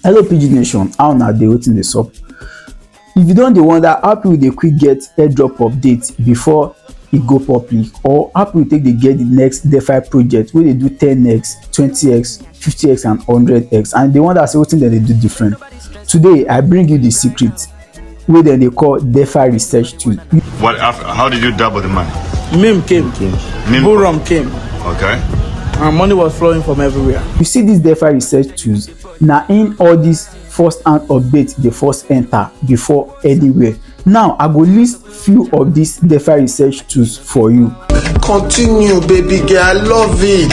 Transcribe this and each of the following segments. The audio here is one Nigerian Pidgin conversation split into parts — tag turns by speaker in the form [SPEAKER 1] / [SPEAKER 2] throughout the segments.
[SPEAKER 1] hello pidgin nation how una dey wetin dey sup if you don dey wonder how people dey quick get airdrop update before e go public or how people take dey get the next defi project wey dey do 10x 20x 50x and 100x and you dey wonder say wetin dem dey do different today i bring you the secret wey dem dey call defa research tool. What, how did you double the money? Meme came. came. Meme Buram came. Okay. And money was flowing from everywhere. You see this DeFi research tools, now in all this first hand update the first enter before anywhere. Now I go list few of these defi research tools for you. continue baby girl i love it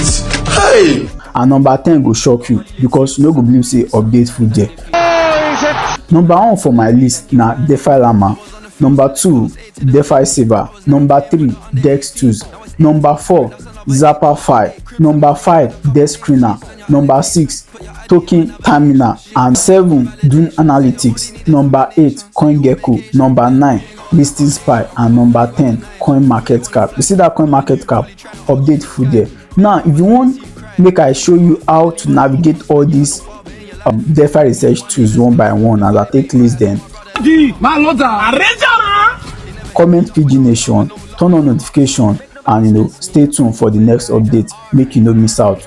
[SPEAKER 1] hey. and number ten go shock you because you no go believe say update full there. number one for my list na defi llama number two defi saver number three dex tools number four zapperfi number five dex screener number six token terminal and seven dune analytics number eight coingecko number nine listing spy and number ten coin market cap you see that coin market cap update full there now if you want make i show you how to navigate all these um, defi research tools one by one as i take list them comment pidgin nation turn on notification and you know stay tuned for the next update make you no miss out